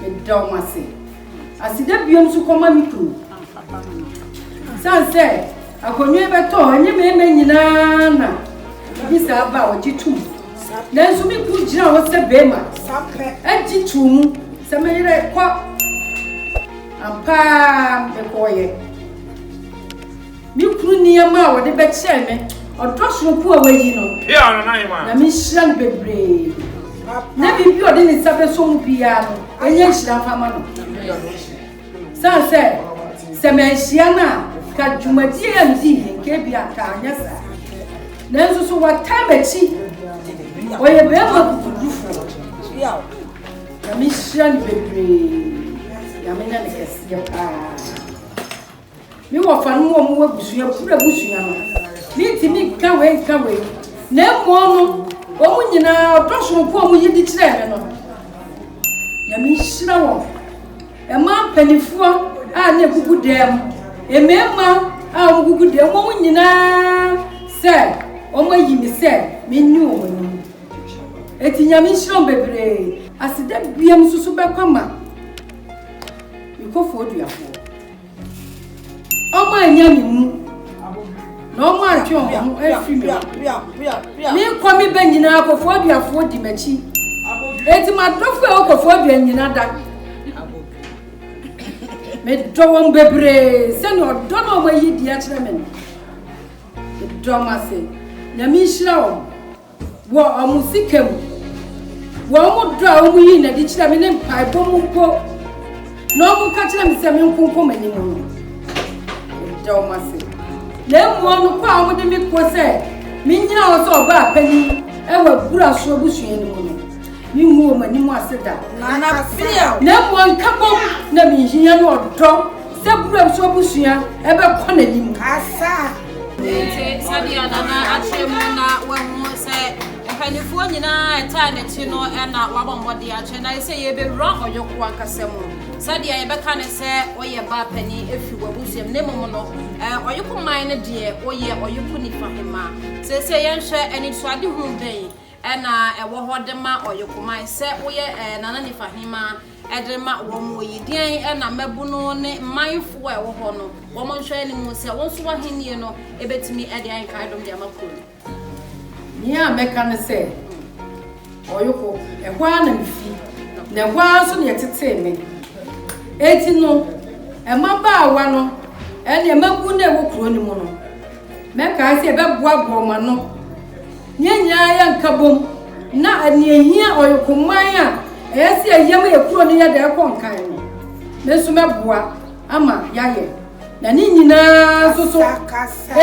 Meda wɔn ase. Aseda biom nso kɔma me kunu. San sɛ akonnwa bɛtɔ ɛnyɛ mmarima nyinaa na obi saa ba a ɔgye tom. Nanso me kunu gyina hɔ sɛ barima agye to mu sɛ me yerɛ kɔ. Ampaa mekɔɔyɛ. Me kunu nneɛma a wɔde bɛkyɛɛ me ɔdɔ soronko a wayi no, na menhyira no bebree, na biribi a ɔde ne nsa bɛsɔ mu biara no, ɛnyɛ nhyira mfa ma no. San sɛ, sɛ manhyia no a, ka dwumadie a medii yɛ nka bi a ka anyɛ saa. Nanso so wataa m'akyi, ɔyɛ bɛrima akokodufoɔ, na menhyira no bebree, na menya no kɛseɛ paa. Me wɔfa no mu ɔmo abusua koro abusua no me ntumi nka wei nka wei na mmom no ɔmo nyinaa ɔdɔ soronko ɔmo yi di kyerɛ me no nyame nhyira wɔn ɛma mpanimfoɔ a ne gugu dɛm mmarima a ɔmo gugu dɛm ɔmo nyinaa sɛ ɔmo ayi me sɛ menni wɔn anim eti nyame nhyira wɔn bebree aseda biam nso so bɛkɔ ma mekɔfoɔ duafoɔ Ọmọ ẹ̀yà mi mu na ọmọ àtwe ọmọ ọmọ ẹ̀fì mi. Mi nkọ mi bẹ nyina akọfọ aduafoɔ di m'akyi. Eti ma dọfo a ọkọfọ adua nyina da. Me dɔ wɔn bebree sɛnea ɔdɔ na wɔn ayi di akyerɛ me no. Me dɔ wɔn ase. Nyame nhyira wɔn. Wɔ wɔn sika mu, wɔn dɔ a wɔyii no adi kyerɛɛ me ne mpaebɔ mu mpo, na wɔka kyerɛɛ me sɛ menkonkɔ m'anim no, meda wɔn ase. Na mmom no kɔ a wɔde me kɔ sɛ mennyina hɔ sɛ ɔbaa panyin wɔ abura so abusua no mu no, mengu wɔn anim ase da. Na mmom nkabom na mehia ne ɔdɔ sɛ abura so abusua ɛbɛkɔ n'anim. Enti sɛdeɛ Nana akyerɛ mu na wahu sɛ mpanimfoɔ nyinaa a ɛtaa n'akyi no na wabɔ mmɔden akyerɛ na sɛ yɛbɛwura ɔyɔko ankasa mu sɛdeɛ yɛbɛka no sɛ woyɛ ba panin ɛfiri w'abusuam ne mmom no ɔyɔko man no deɛ woyɛ ɔyɔko nifa hema. Seesei yɛnhwɛ anisoadehunu bɛn na ɛwɔ hɔ de ma ɔyokoman sɛ woyɛ Nana Nifa Hemaa de ma wɔn yi. Deɛn na mmabunu ne mmanfoɔ a ɛwɔ hɔ no wɔn nhwɛ anim sɛ wo nso w'ahennie no bɛtumi de ayɛ nkaedom de ama kuro no? Nea mɛka ne sɛ, Ɔyoko, ɛhɔ ara na mefi, na ɛhɔ ara nso na yɛtetee me. Enti no, mmabaawa no ne mmabunu a ɛwɔ kuro no mu no, mɛkae sɛ yɛbɛboaboa wɔn ano. Yɛn nyinaa yɛ nkabom na nea ehia Ɔyɔkoman a ɛyɛ sɛ yɛyɛ ma yɛ kuro no yɛ dɛ ɛkɔ nkan no, me nso mɛboa ama yɛayɛ. Na ne nyinaa nso so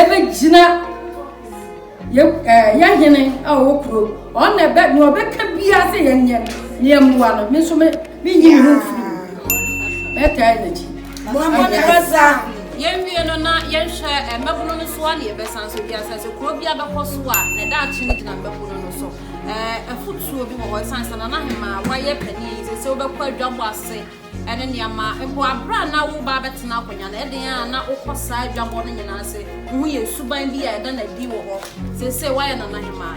ɛbɛgyina yɛ ɛɛ yɛ hene a ɔwɔ kuro ɔno na ɛbɛ nea ɔbɛka biara sɛ yɛnyɛ no na yɛmmoa no me nso me Menyi me ho mfiri mu. Mɛtaa n'akyi. Mommɔ ne basa. Yɛnwie no na yɛnhwɛ eh, mmabunu no so a na yɛbɛsan so dua sɛ sɛ kuro bi abɛkɔ so a na daakye no gyina mmabunu no so eh, afotuo bi wɔ hɔ ɛsan sɛ nana hema wayɛ panin yi sɛ sɛ wobɛkɔ adwabɔ ase ɛne nneɛma mpo aberɛ a na woba bɛtena akonnwa no ɛden a na wokɔ saa adwabɔ no nyinaa sɛ wohu yɛ suban bi a ɛda no adi wɔ hɔ sɛ sɛ wayɛ nana hema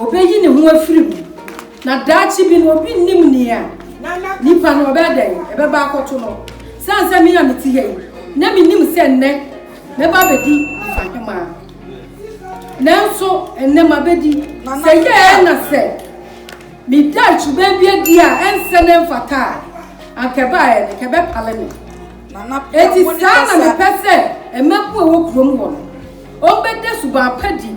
Obeyi ne ho afiri mu. Na daakye bi no, obi nnim nea nipa no ɔbɛyɛ dɛn, ɛbɛba akɔto no. Sane sɛ me a mete ha yi, na minnim sɛ nnɛ mɛba abɛdi Mfahema. Nanso nnɛ mabɛdi. Sɛ yɛɛ na sɛ me daakye baabi adi a ɛnsɛ na ɛmfata a, anka ɛbaeɛ no, anka ɛbɛpale me. Enti saa na mepɛ sɛ mmabun a ɛwɔ kurom hɔ no, wɔbɛda suban pa di.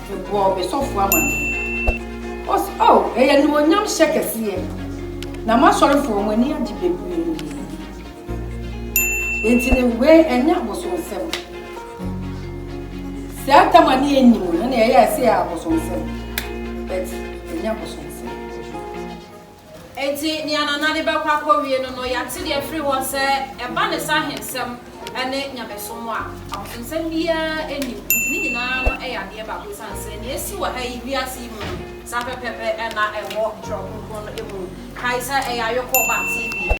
Mebɔɔ me sɔfoɔ amanneɛ. Ɔse, O, ɛyɛ animuonyam hyɛ kɛseɛ, na m'asɔrefoɔ, wɔn ani agye bebree. Enti no, wei ɛnyɛ abosonsɛm. Sɛ atam a ne ɛnni mu no na ɛyɛ a ɛsɛ yɛ abosonsɛm, but ɛnyɛ abosonsɛm. Enti nea Nana de bɛkɔ akɔwie no no, yɛate deɛ firi hɔ sɛ ɛba ne sɛ ahensɛm ne nyamesom a, abosomsɛm biara nni mu. Enti ne nyinaa no yɛ adeɛ baako ɛsiane sɛ nea ɛsi wɔ ha yi, wiase yi mu no, saa pɛpɛɛpɛ na ɛwɔ Twerɛ Kronkron no mu. Kae sɛ ɛyɛ ayɔkɔ ba TV.